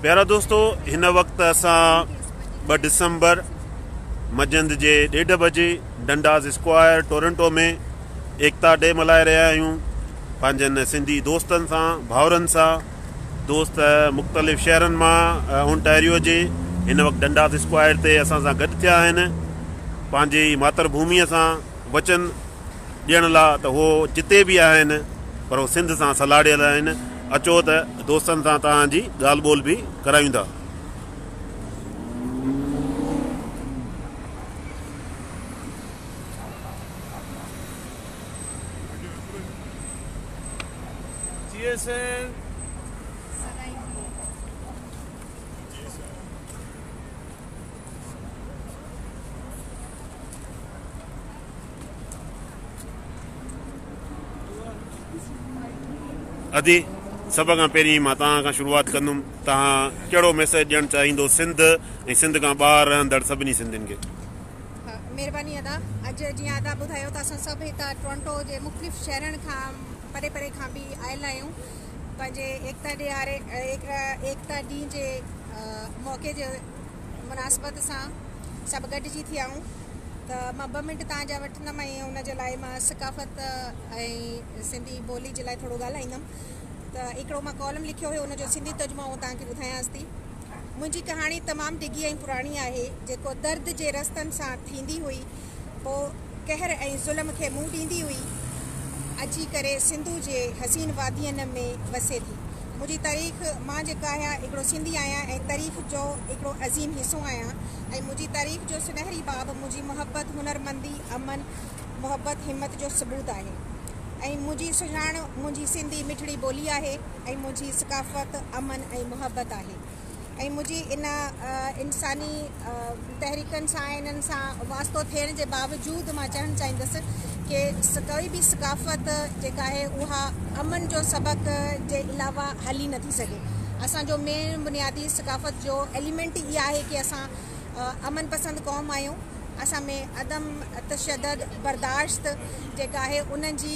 پيارا دوستو هن وقت اسان ٻه ڊسمبر مجند جي ڏيڍ بجي ڊنڊاز اسڪوائر ٽورنٽو ۾ ايڪتا ڊي ملهائي رهيا آهيون پنهنجن سنڌي دوستن سان ڀاورن سان دوست مختلف شهرن مان اونٽاريو جي هن وقت ڊنڊاز اسڪوائر تي اسان سان گڏ ٿيا آهن پنهنجي ماتر ڀومي سان وچن ڏيڻ لا ته هو جتي به آهن پر هو سنڌ سان سلهاڙيل آهن اچو ته دوستن سان توهان جي ڳالهه ٻولهه به ڪرايون ٿا. ادي سڀ کان پهرين مان توهان کان شروعات ڪندم توهان ڪهڙو ميسج ڏيڻ چاهيندو سنڌ ۽ سنڌ کان ٻاهر رهندڙ سڀني سنڌين کي مهرباني ادا اڄ جيئن ادا ٻڌايو ته اسان سڀ هتا ٽورنٽو جي مختلف شهرن کان پري پري کان به آيل آهيون پنهنجي ايڪتا ڏياري ايڪتا ڏينهن جي موقعي جي مناسبت سان سڀ گڏجي ٿيائون ته مان ٻه منٽ تان جا وٺندم ۽ ان جي لاء مان ثقافت ۽ سنڌي ٻولي جي لاء ٿورو ڳالهائيندم ته هڪڙو مان ڪالم لکيو هيو ان جو سنڌي ترجمو آئون تان کي ٻڌايانس ٿي منهنجي ڪهاڻي تمام ڊگهي ۽ پراڻي آهي جيڪو درد جي رستن سان ٿيندي هئي پوء قهر ۽ ظلم کي منهن ڏيندي هئي اچي ڪري سنڌو جي حسين وادين ۾ وسي ٿي. منهنجي تاريخ مان جيڪا آهيان هڪڙو سنڌي آهيان ۽ تاريخ جو هڪڙو عظيم حصو آهيان ۽ منهنجي تاريخ جو سنهري باب منهنجي محبت هنرمندي امن محبت همت جو ثبوت آهي ۽ منهنجي سڃاڻ منهنجي سنڌي مٺڙي ٻولي آهي ۽ منهنجي ثقافت امن ۽ محبت آهي. ۽ منهنجي ان انساني تحريڪن سان ۽ انهن سان واسطو ٿيڻ جي باوجود مان چوڻ چاهيندس ڪي ڪوئي به ثقافت جيڪا آهي اها امن جو سبق جي علاوه هلي نٿي سگهي اسان جو مين بنيادي ثقافت جو ايليمينٽ ئي آهي ڪي اسان امن پسند قوم آهيون اسان ۾ عدم تشدد برداشت جيڪا آهي ان جي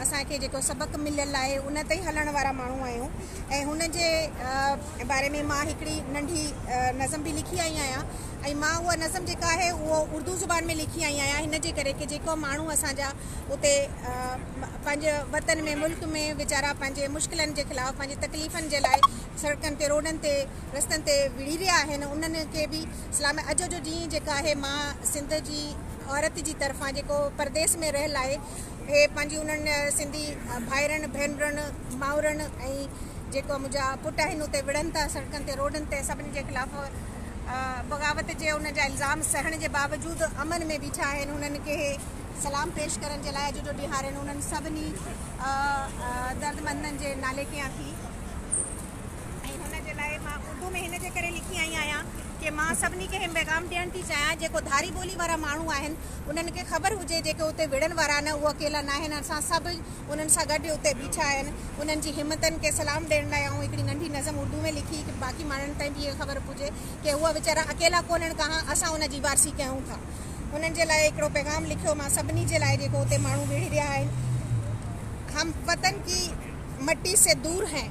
اسان کي جيڪو سبق مليل آهي ان تي هلڻ وارا ماڻهو آهيون ۽ هن جي باري ۾ مان هڪڙي ننڍي نظم به لکي آئي آهيان ۽ مان اها نظم جيڪا آهي اهو اردو زبان ۾ لکي آئي آهيان هن جي ڪري ڪي جيڪو ماڻهو اسان جا اتي پنهنجي وطن ۾ ملڪ ۾ ويچارا پنهنجي مشڪلن جي خلاف پنهنجي تڪليفن جي لاء سڙڪن تي روڊن تي رستن تي وڙهي رهيا آهن انهن کي به سلام اڄ جو ڏينهن جيڪا آهي مان سنڌ جي عورت جي طرفان جيڪو پرديس ۾ رهيل آهي اهي پنهنجي انهن سنڌي ڀائرن، ڀينرن، مائرن ۽ جيڪو منهنجا پٽ آهن اتي وڙهن ٿا، سڙڪن تي روڊن تي سڀني جي خلاف بغاوت جي انهن جا الزام سهڻ جي باوجود امن ۾ بيٺا آهن انهن کي سلام پيش ڪرڻ جي لاء اڄ جو ڏينهن آهن انهن سڀني دردمندن جي نالي ڪيان ٿي. ۽ هن جي لاء مان اردو ۾ هن جي ڪري لکي آئي آهيان ڪي مان سڀني کي هي پيغام ڏيڻ ٿي چاهيان جيڪو ڌاري ٻولي وارا ماڻهو آهن انهن کي خبر هجي جيڪي اتي وڙهڻ وارا آهن اهي اڪيلا ناهن اسان سڀ انهن سان گڏ اتي بيٺا آهن انهن جي همتن کي سلام ڏيڻ لاء آئون هڪڙي ننڍي نظم اردو ۾ لکي ڪي باقي ماڻهن تائين به هي خبر پهجي ڪي اهي ويچارا اڪيلا ڪونهن ڪهان اسان ان جي وارثي ڪيون ٿا انهن جي لاء هڪڙو پيغام لکيو مان سڀني جي لاء جيڪو اتي ماڻهو وڙهي رهيا آهن هم وطن ڪي مٽي سي دور هين.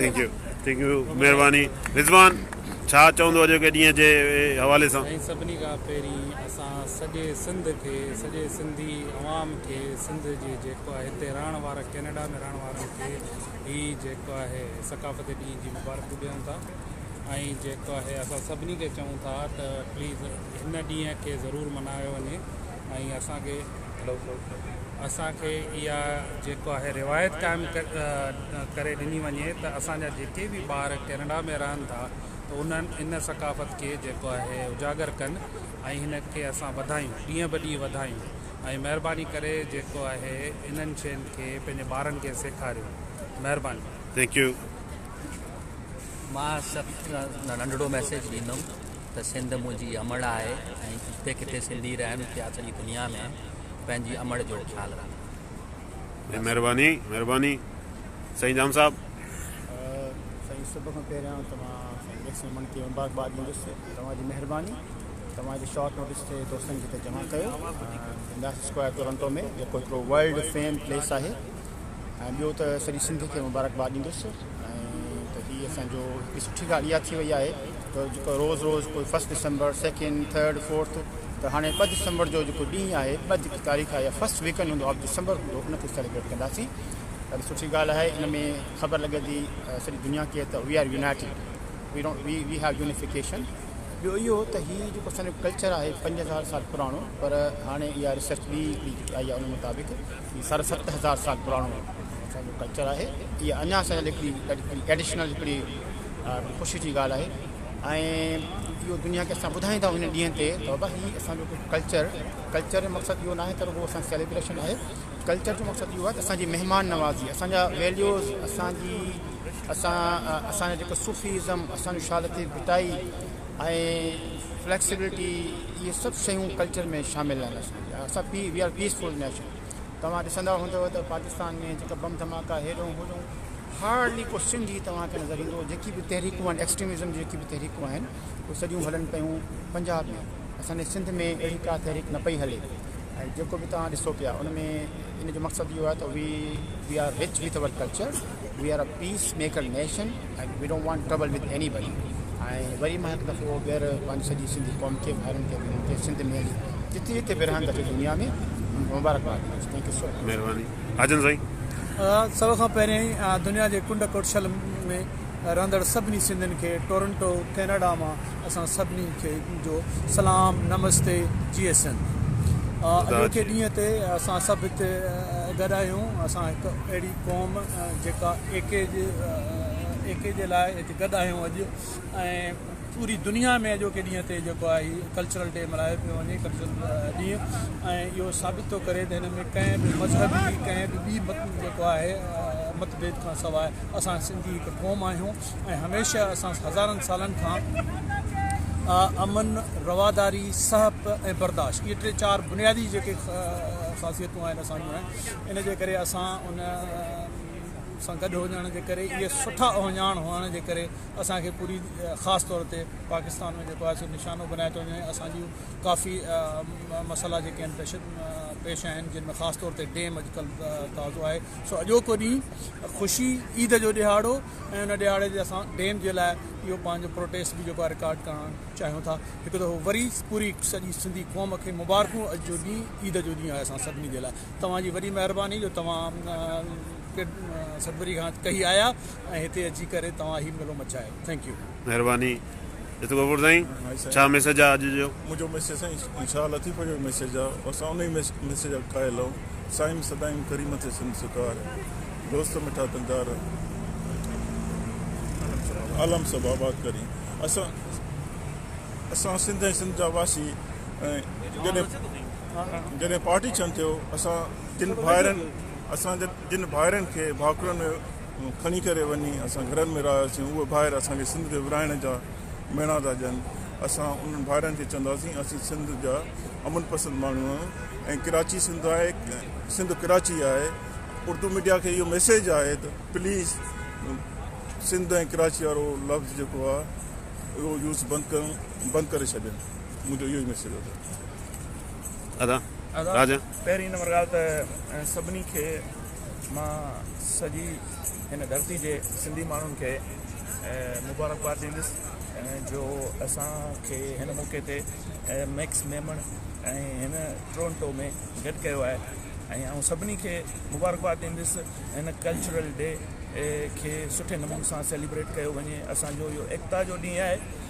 ٿينڪ يو ٿينڪ يو مهرباني رضوان ڇا چوندو اڄوڪي ڏينهن جي حوالي سان. سائين سڀني کان پهرين اسان سڄي سنڌ کي سڄي سنڌي عوام کي سنڌ جي جيڪو آهي هتي رهڻ وارا ڪينيڊا ۾ رهڻ وارن کي هي جيڪو آهي ثقافتي ڏينهن جي مبارڪون ڏيون ٿا ۽ جيڪو آهي اسان سڀني کي چئون ٿا ته پليز هن ڏينهن کي ضرور ملهايو وڃي ۽ اسان کي اسان کي اها جيڪو آهي روايت قائم ڪري ڏني وڃي ته اسان جا جيڪي به ٻار ڪينيڊا ۾ رهن ٿا ته انهن ان ثقافت کي جيڪو آهي اجاگر ڪن ۽ هن کي اسان وڌايون ڏينهن به ڏينهن وڌايون ۽ مهرباني ڪري جيڪو آهي انهن شين کي پنهنجي ٻارن کي سيکاريو مهرباني ٿينڪ يو. مان صرف ننڍڙو ميسيج ڏيندم ته سنڌ منهنجي امڙ آهي ۽ جتي ڪٿي سنڌي رهن پيا سڄي دنيا ۾ پنهنجي امڙ جو خيال رکن جي بس. مھرباني مھرباني سائين جام صاحب. سائين سڀ کان پهريان توهان سائين اليڪس رمڻ کي مبارڪباد ڏيندس توهان جي مهرباني توهان جي شارٽ نوٽس تي دوستن کي هتي جمع ڪيو ڊناس اسڪوائر ٽورنٽو ۾ جيڪو هڪڙو ورلڊ فيم پليس آهي ۽ ٻيو ته سڄي سنڌ کي مبارڪباد ڏيندس ۽ ته هي اسان جو هڪ سٺي ڳالهه اها ٿي وئي آهي ته جيڪو روز روز ڪوئي first December second third fourth ته هاڻي ٻه ڊسمبر جو جيڪو ڏينهن آهي ٻه جيڪي تاريخ آهي فرسٽ ويڪنڊ هوندو آف ڊسمبر هوندو ان تي سيليبريٽ ڪنداسين ڏاڍي سٺي ڳالهه آهي ان ۾ خبر لڳي ٿي سڄي دنيا کي ته we are united we don't we we have unification ٻيو اهو ته هي جيڪو اسان جو ڪلچر آهي پنج هزار سال پراڻو پر هاڻي اها ريسرچ ٻي هڪڙي جيڪي آئي آهي ان مطابق هي ساڍا ست هزار سال پراڻو اسان جو ڪلچر آهي اها اڃا اسان جي لاء هڪڙي ايڊيشنل هڪڙي خوشي جي ڳالهه آهي ۽ اهو دنيا کي اسان ٻڌائيندا آهيون هن ڏينهن تي ته بابا هي اسان جو ڪلچر ڪلچر جو مقصد اهو ناهي ته رڳو اسان سيليبريشن آهي ڪلچر جو مقصد اهو آهي ته اسان جي مهمان نوازي اسان جا ويليوز اسان جي اسان اسان جو جيڪو صوفيزم اسان جو شال تي ڀٽائي ۽ فليڪسبلٽي اهي سڀ شيون ڪلچر ۾ شامل آهن اسان پي we are peaceful nation توهان ڏسندا هوندو ته پاڪستان ۾ جيڪا بم ڌماڪا هيڏون هوڏون هارڊلي ڪو سنڌ ئي توهان کي نظر ايندو جيڪي به تحريڪون آهن ايڪسٽريمزم جي جيڪي به تحريڪون آهن اهي سڄيون هلن پيون پنجاب ۾ اسان جي سنڌ ۾ اهڙي ڪا تحريڪ نه پئي هلي ۽ جيڪو به توهان ڏسو پيا ان ۾ ان جو مقصد اهو آهي ته we we are rich with our culture. We are a peace maker nation and we don't want trouble with anybody ۽ وري مان هڪ دفعو ٻيهر پنهنجي سڄي سنڌي قوم کي ڀائرن کي ڀيڻن کي سنڌ ۾ هلي جتي جتي به رهن ٿا سڄي دنيا ۾ مبارڪباد ڏيان ٿو ٿينڪ يو سو مچ مهرباني آجن سائين سڀ کان پهرين دنيا جي ڪنڊ ڪڙڇل ۾ رهندڙ سڀني سنڌين کي ٽورنٽو ڪيناڊا مان اسان سڀني کي جو سلام نمستي جي سنڌ اڄوڪي ڏينهن تي اسان سڀ هتي گڏ آهيون اسان هڪ اهڙي قوم جيڪا ايڪي ايڪي جي لاء هتي گڏ آهيون اڄ ۽ پوري دنيا ۾ اڄوڪي ڏينهن تي جيڪو آهي ڪلچرل ڊي ملهايو پيو وڃي ڪلچرل ڏينهن ۽ اهو ثابت ٿو ڪري ته هن ۾ ڪنهن به مذهبي ڪنهن به ٻي مت جيڪو آهي مت ڀيد کان سواء اسان سنڌي هڪ قوم آهيون ۽ هميشه اسان هزارن سالن کان امن رواداري سهپ ۽ برداشت اهي ٽي چار بنيادي جيڪي خاصيتون آهن اسان جون ان جي ڪري اسان ان سان گڏ هجڻ جي ڪري اهي سٺا اهڃاڻ هئڻ جي ڪري اسان کي پوري خاص طور تي پاڪستان ۾ جيڪو آهي نشانو بنايو ٿو وڃي اسان جون ڪافي مسئلا جيڪي آهن پيش پيش آهن جن ۾ خاص طور تي ڊيم اڄڪلهه تازو آهي سو اڄوڪو ڏينهن خوشي عيد جو ڏيهاڙو ۽ ان ڏيهاڙي تي اسان ڊيم جي لاء اهو پنهنجو پروٽيسٽ به جيڪو رڪارڊ ڪرڻ چاهيون ٿا هڪ دفعو وري پوري سڄي سنڌي قوم کي مبارڪون اڄ جو ڏينهن عيد جو ڏينهن آهي اسان سڀني جي لاء توهان جي وڏي مهرباني جو توهان سڏپري کان ڪهي آيا ۽ هتي اچي ڪري توهان هي ميلو مچايو ٿينڪ يو. مهرباني جت غفور سائين ڇا ميسج آ اڄ جو. منهنجو ميسج سائين شاهه لطيف جو ميسج آ اسان انهي ميسج جا قائل آهون سائين سدائين ڪريم ٿئي سنڌ سرڪار دوست مٺا دلدار عالم سڀ آباد ڪرين اسان اسان سنڌ ۽ سنڌ جا واسي ۽ جڏهن جڏهن پارٽي ڇن ٿيو اسان جن ڀائرن اسان جن ڀائرن کي ڀاڪرن ۾ کڻي ڪري وڃي اسان گهرن ۾ رهياسين اهي ڀائر اسان کي سنڌ کي ورهائڻ جا ميڻا ٿا ڏين اسان انهن ڀائرن کي چونداسين اسين سنڌ جا امن پسند ماڻهو آهيون ۽ ڪراچي سنڌ آهي سنڌ ڪراچي آهي اردو ميڊيا کي اهو ميسيج آهي ته پليز سنڌ ۽ ڪراچي وارو لفظ جيڪو آهي اهو يوز بند ڪريون بند ڪري ڇڏين منهنجو اهو ئي ميسيج اٿس پهرين نمبر ڳالهه ته سڀني کي مان سڄي هن ڌرتي جي سنڌي ماڻهن کي مبارڪباد ڏيندس جو اسان کي هن موقعي تي ميڪس ميمڻ ۽ هن ٽورنٽو ۾ گڏ ڪيو آهي ۽ آئون سڀني کي مبارڪباد ڏيندس هن ڪلچرل ڊي کي سٺي نموني سان سيليبريٽ ڪيو وڃي اسانجو اهو ايڪتا جو ڏينهن آهي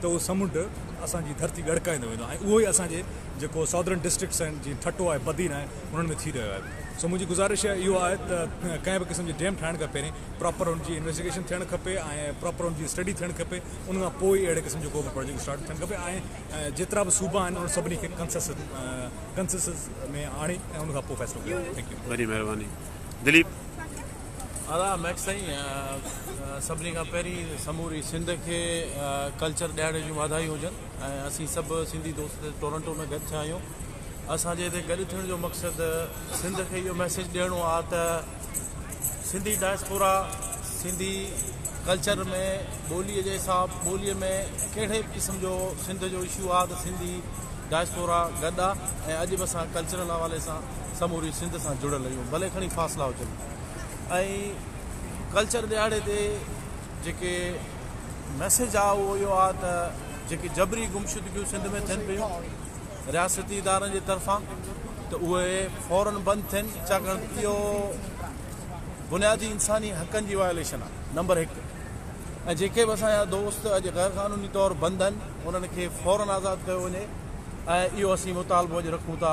ته اهو سمنڊ اسان جي ڌرتي ڳڙڪائيندو ويندو ۽ اهو ئي اسان جي جيڪو ساڌرن ڊسٽرڪٽس آهن جيئن ٺٽو آهي بدين آهي انهن ۾ ٿي رهيو آهي سو منهنجي گذارش اهو آهي ته ڪنهن به قسم جي ڊيم ٺاهڻ کان پهرين پراپر ان جي انويسٽيگيشن ٿيڻ کپي ۽ پراپر ان جي اسٽڊي ٿيڻ کپي ان کان پوء ئي اهڙي قسم جو ڪو به پراجيڪٽ اسٽارٽ ٿيڻ کپي ۽ جيترا به صوبا آهن انهن سڀني کي ڪنسسس ۾ آڻي ۽ ان کان پوء فيصلو ڪيو وڃي ٿينڪ يو. وڏي مهرباني دليپ. ادا ميڪ سائين سڀني کان پهرين سموري سنڌ کي ڪلچر ڏيهاڙي جون واڌايون هجن ۽ اسين سڀ سنڌي دوست ٽورنٽو ۾ گڏ ٿيا آهيون اسان جي هتي گڏ ٿيڻ جو مقصد سنڌ کي اهو ميسيج ڏيڻو آ ته سنڌي ڊائسپورا سنڌي ڪلچر ۾ ٻولي جي حساب ٻولي ۾ ڪهڙي به قسم جو سنڌ جو اشو آ ته سنڌي ڊائسپورا گڏ آ ۽ اڄ به اسان ڪلچرل حوالي سان سموري سنڌ سان جڙيل اهي ڀلي کڻي فاصلا هجن ۽ ڪلچر ڏهاڙي تي جيڪي ميسيج آ اهو اهو آ ته جيڪي جبري گمشدگيون سنڌ ۾ ٿين پيون رياستي ادارن جي طرفان ته اهي فورن بند ٿين ڇاڪاڻ ته اهو بنيادي انساني حقن جي وائليشن آ نمبر 1 ۽ جيڪي به اسان جا دوست اڄ غير قانوني طور بند آهن انهن کي فورن آزاد ڪيو وڃي ۽ اهو اسين مطالبو اڄ رکون ٿا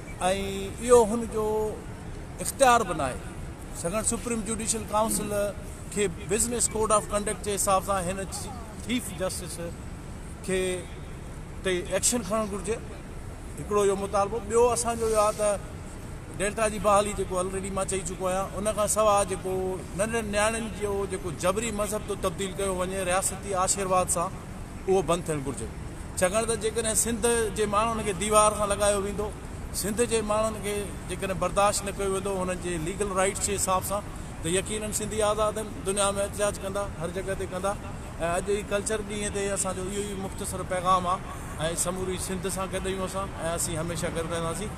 ۽ اهو هن جو اختيار به ناهي سگهڻ سپريم جوڊيشل ڪائونسل کي بزنس ڪوڊ آف ڪنڊڪٽ جي حساب سان هن چيف جسٽس کي تي ايڪشن کڻڻ گهرجي هڪڙو اهو مطالبو ٻيو اسان جو اهو آهي ته ڊيلٽا جي بحالي جيڪو آلريڊي مان چئي چڪو آهيان ان کان سواء جيڪو ننڍن نياڻين جو جيڪو جبري مذهب ٿو تبديل ڪيو وڃي رياستي آشيرواد سان اهو بند ٿيڻ گهرجي ڇاڪاڻ ته جيڪڏهن سنڌ جي ماڻهن کي ديوار سان لڳايو ويندو سنڌ جي ماڻهن کي جيڪڏهن برداشت نه ڪيو ويندو انهن جي ليگل رائيٽس جي حساب سان ته يقينن سنڌي آزاد آهن دنيا ۾ احتجاج ڪندا هر جڳهه تي ڪندا ۽ اڄ جي ڪلچر ڏينهن تي اسان جو اهو ئي مختصر پيغام آهي ۽ سموري سنڌ سان گڏ آهيون اسان ۽ اسين هميشه گڏ رهنداسين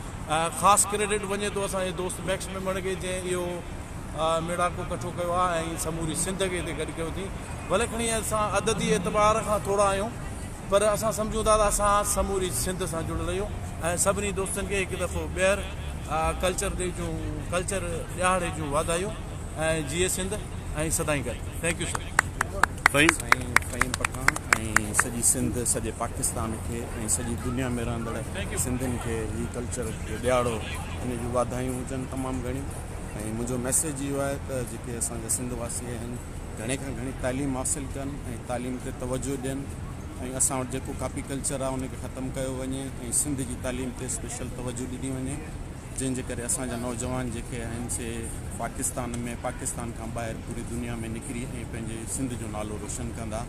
خاص ڪريڊٽ وڃي ٿو اسان جي دوست ميڪس ميمڻ کي جنهن اهو ميڙاڪو ڪٺو ڪيو آهي ۽ سموري سنڌ کي هتي گڏ ڪيو اٿئين. ڀلي کڻي اسان عددي اعتبار کان ٿورا آهيون پر اسان سمجهون ٿا ته اسان سموري سنڌ سان جڙيل اهيون ۽ سڀني دوستن کي هڪ دفعو ٻيهر ڪلچر ڊي جون ڪلچر ڏهاڙي جون واڌايون ۽ جيئي سنڌ ۽ سدائين گڏ thank you sir. Fahim ۽ Fahim Pathan ۽ سڄي سنڌ سڄي پاڪستان کي ۽ سڄي دنيا ۾ رهندڙ سنڌين کي هي ڪلچر ڏياڙو ان جون واڌايون هجن تمام گهڻيون. ۽ منهنجو ميسيج اهو آهي ته جيڪي اسان جا سنڌ واسي آهن گهڻي کان گهڻي تعليم حاصل ڪن ۽ تعليم تي توجهه ڏين ۽ اسان وٽ جيڪو ڪاپي ڪلچر آهي ان کي ختم ڪيو وڃي ۽ سنڌ جي تعليم تي اسپيشل توجهه ڏني وڃي جنهن جي ڪري اسان جا نوجوان جيڪي آهن سي پاڪستان ۾ پاڪستان کان ٻاهر پوري دنيا ۾ نڪري ۽ پنهنجي سنڌ جو نالو روشن ڪندا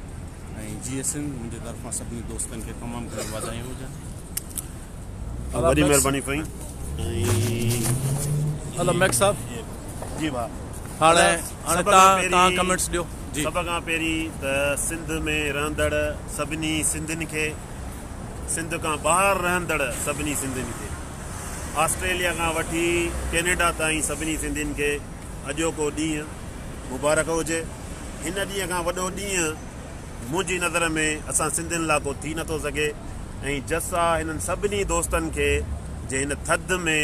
۽ جيئي سنڌ منهنجي طرفان سڀني دوستن کي تمام گهڻيون واڌايون هجن. وڏي مهرباني سائين ادا ميڪ صاحب جي ڀا هاڻي هاڻي تان ڪمنٽس ڏيو جي سڀ کان پهرين ته سنڌ ۾ رهندڙ سڀني سنڌين کي سنڌ کان ٻاهر رهندڙ سڀني سنڌين کي آسٽريليا کان وٺي ڪينيڊا تائين سڀني سنڌين کي اڄوڪو ڏينهن مبارڪ هجي هن ڏينهن کان وڏو ڏينهن منهنجي نظر ۾ اسان سنڌين لا ڪو ٿي نٿو سگهي ۽ جسا هنن سڀني دوستن کي جي هن ٿڌ ۾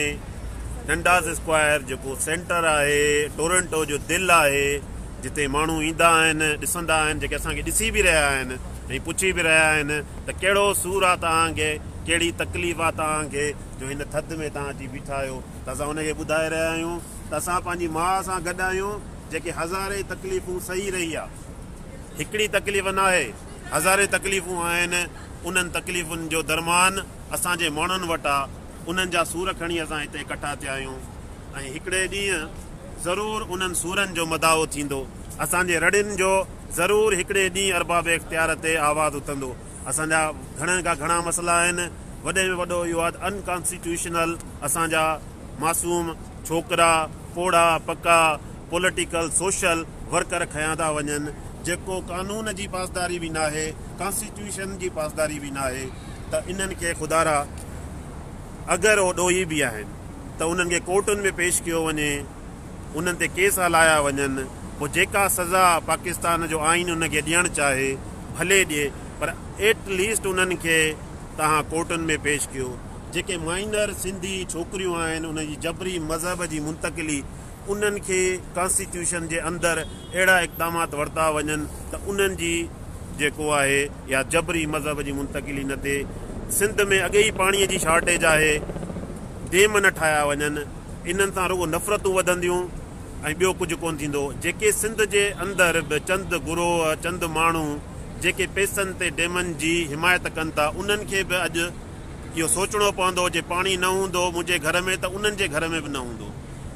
ڊنڊاس اسڪوائر جيڪو سينٽر آهي ٽورنٽو جو دل آهي جتي ماڻهو ايندا آهن ڏسندا آهن جيڪي اسان کي ڏسي به رهيا آهن ۽ پڇي به رهيا آهن ته ڪهڙو سور آ توهان کي ڪهڙي تڪليف آ توهان کي جو هن ٿڌ ۾ توهان اچي بيٺا آهيو ته اسان ان کي ٻڌائي رهيا آهيون ته اسان پنهنجي ماء سان گڏ آهيون جيڪي هزارين تڪليفون سهي رهي آ. هڪڙي تڪليف ناهي، هزارين تڪليفون آهن، انهن تڪليفن جو درمان اسان جي ماڻهن وٽ آ، انهن جا سور کڻي اسان هتي ڪٺا ٿيا آهيون ۽ هڪڙي ڏينهن ضرور انهن سورن جو مداعو ٿيندو، اسان جي رڙين جو ضرور هڪڙي ڏينهن ارباب اختيار تي آواز اٿندو، اسان جا گهڻن کان گهڻا مسئلا آهن، وڏي ۾ وڏو اهو آ ته ان ڪانسٽيٽيوشنل اسان جا معصوم ڇوڪرا، پوڙها پڪا پوليٽيڪل سوشل ورڪر کنيا ٿا وڃن جيڪو قانون جي پاسداري به ناهي ڪانسٽيٽيوشن جي پاسداري به ناهي ته انهن کي خدارا اگر هو ڏوهي به آهن ته انهن کي ڪورٽن ۾ پيش ڪيو وڃي انهن تي ڪيس هلايا وڃن پوء جيڪا سزا پاڪستان جو آئين انهن کي ڏيڻ چاهي ڀلي ڏي پر ايٽ ليسٽ انهن کي توهان ڪورٽن ۾ پيش ڪيو. جيڪي مائنر سنڌي ڇوڪريون آهن انهن جي جبري مذهب جي منتقلي انهن کي ڪانسٽيٽيوشن جي اندر اهڙا اقدامات ورتا وڃن ته انهن جي جيڪو آهي يا جبري مذهب جي منتقلي نه ٿئي سنڌ ۾ اڳي ئي پاڻي جي شارٽيج آهي ڊيم نه ٺاهيا وڃن انهن سان رڳو نفرتون وڌنديون ۽ ٻيو ڪجهه ڪون ٿيندو جيڪي سنڌ جي اندر به چند گروهه چند ماڻهو جيڪي پئسن تي ڊيمن جي حمايت ڪن ٿا انهن کي به اڄ اهو سوچڻو پوندو جي پاڻي نه هوندو منهنجي گهر ۾ ته انهن جي گهر ۾ به نه هوندو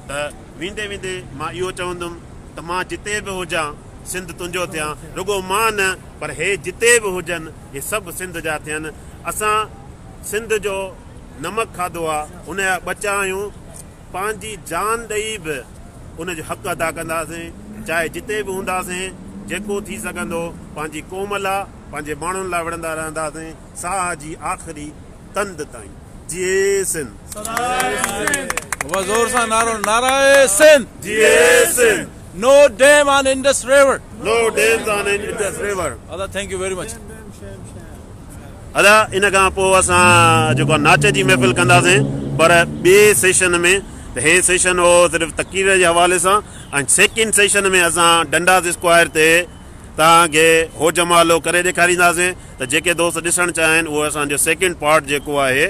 ته ويندي ويندي مان اهو چوندم ته مان جتي به هجان سنڌ تنهنجو ٿيان رڳو مان نه پر هي جتي به هجن هي سڀ سنڌ جا ٿين اسان سنڌ جو نمڪ کاڌو آ ان جا ٻچا آهيون پنهنجي جان ڏئي به ان جو حق ادا ڪنداسين چاهي جتي به هونداسين جيڪو ٿي سگهندو پنهنجي قوم لا پنهنجي ماڻهن لا وڙهندا رهنداسين. ساهه جي آخري تند تائين جيئي سنڌ. نعري سنڌ. جيئي Sindh. No dam on Indus river. No dams on Indus river. ادا ٿينڪ يو ويري مچ. ادا ان کان پوء اسان جيڪو آهي ناچ جي محفل ڪنداسين پر ٻئي سيشن ۾ ته هي سيشن هو صرف تقرير جي حوالي سان ۽ سيڪنڊ سيشن ۾ اسان ڊنڊاس اسڪوائر تي توهان کي هو جمالو ڪري ڏيکارينداسين ته جيڪي دوست ڏسڻ چاهين اهو اسان جو سيڪنڊ پارٽ جيڪو آهي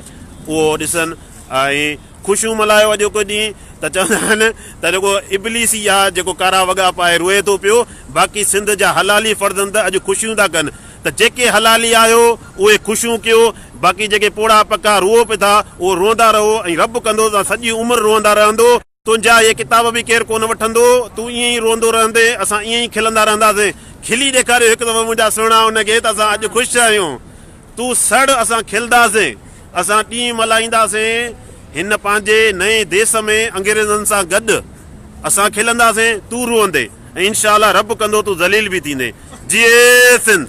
اهو ڏسن ۽ خوشيون ملهايو اڄوڪو ڏينهن ته چوندا آهن ته رڳو ابليس ئي آهي جيڪو ڪارا وڳا پائي روئي ٿو پيو باقي سنڌ جا حلالي فرزند اڄ خوشيون ٿا ڪن ته جيڪي حلالي آهيو اهي خوشيون ڪيو باقي جيڪي پوڙها پکا روئو پئي ٿا اهو روئندا رهو ۽ رب ڪندو ته سڄي عمر روئندا رهندو. تنهنجا اهي ڪتاب به ڪير ڪونه وٺندو. تون ائين ئي روئندو رهندين، اسان ائين ئي کلندا رهنداسين. کلي ڏيکاريو هڪ دفعو منهنجا سهڻا ان کي ته اسان اڄ خوش آهيون. تون سڙ اسان کلنداسين. اسان ڏينهن ملهائينداسين. هن پنهنجي نئين ديس ۾ انگريزن سان گڏ اسان کلنداسين، تون روئندين ۽ انشاء الله رب ڪندو تون ذليل به ٿيندين. جيئي سنڌ!